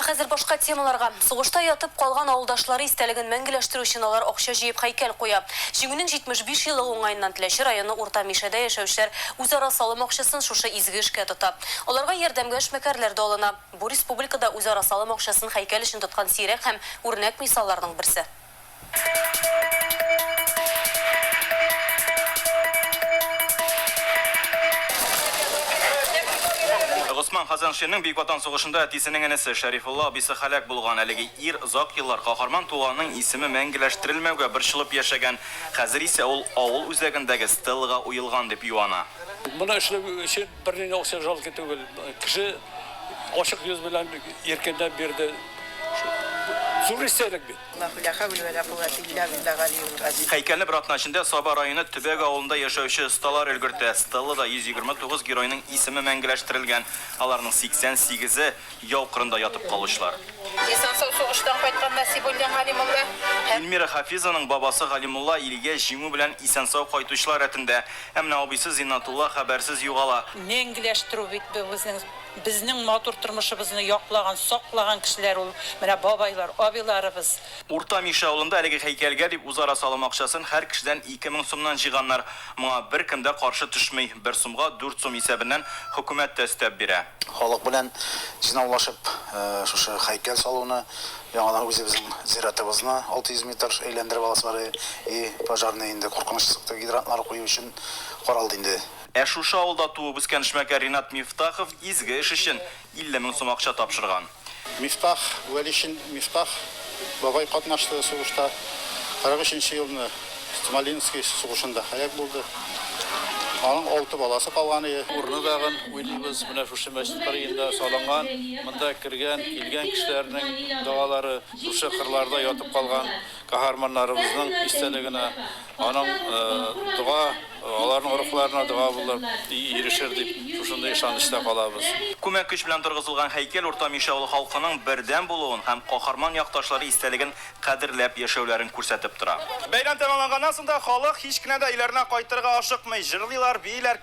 Ә хәзер башка темаларга. Сугышта ятып калган авылдашлары истәлеген мәңгеләштерү өчен алар акча җыеп һәйкәл куя. Җиңүнең 75 елы уңаеннан Теләче районы Урта Мишәдә яшәүчеләр үзара салым акчасын шушы изге эшкә тота. Аларга ярдәмгә эшмәкәрләр дә алына. Бу республикада үзара салым акчасын һәйкәл өчен тоткан сирәк һәм үрнәк мисалларның берсе. Госман Хәзәншинең Бөек Ватан сугышында әтисенең энесе Шәрифулла абыйсы һәлак булган. Әлеге ир озак еллар каһарман туганының исеме мәңгеләштерелмәүгә борчылып яшәгән, хәзер исә ул авыл үзәгендәге стеллага уелган дип юана. Моны эшләү өчен Берни дә үксеп жалки түгел. Кеше ачык йөз белән иркенләп бирде. Зур истәлек бит. Ла хуля хәүлә вә ла куәтә илля биллаһ галиюл газим. Һәйкәлне бер атна эчендә Саба районы Төбәк авылында яшәүче осталар өлгертә. Стеллада 129 геройның исеме мәңгеләштерелгән. Аларның 88е, Яу кырында ятып калучылар. Исән-сау сугыштан кайткан Насибуллин Галимулла һәм. Ильмира Хафизованың бабасы Галимулла илгә Җиңү белән исән-сау кайтучылар рәтендә. Ә менә абыйсы Зиннатулла хәбәрсез югала. Мәңгеләштерү бит бу безнең. Безнең матур тормышыбызны яклаган, саклаган кешеләр ул менә бабайлар, абыйларыбыз. Урта Мишә авылында әлеге һәйкәлгә дип үзара салым акчасын һәр кешедән ике мең сумнан җыйганнар. Моңа беркем дә каршы төшми, бер сумга дүрт сум исәбеннән хөкүмәт тә өстәп бирә. Халык белән җыйнаулашып, шушы һәйкәл салуны, яңадан үзебезнең зиратыбызны 600 метр әйләндереп аласылары, и, пожарный инде куркыныч сыкты, гидрантлар кую өчен каралды инде. Ә шушы авылда туып-үскән эшмәкәр Ринат Мифтахов изге эш өчен 50 мең сум акча тапшырган. Мифтах, Вәлишин Мифтах бабай катнашты сугышта. 43 нче елны Смоленский сугышында һәлак булды. Аның алты баласы калган иде. Урыны тагын уйлыйбыз, менә шушы мәчет кырыенда салынган. Монда кергән, килгән кешеләрнең догалары, шушы кырларда ятып калган каһарманнарыбызның истәлегенә Аның дога аларның рухларына дога булып ирешер дип, шушындый ышанычта калабыз. Күмәк көч белән торгызылган һәйкәл Урта Мишә авылы халкының бердәм булуын һәм каһарман якташлары истәлеген кадерләп яшәүләрен күрсәтеп тора. Бәйрәм тәмамланганнан соң да халык һич кенә дә өйләренә кайтырга ашыкмый, җырлыйлар, бииләр,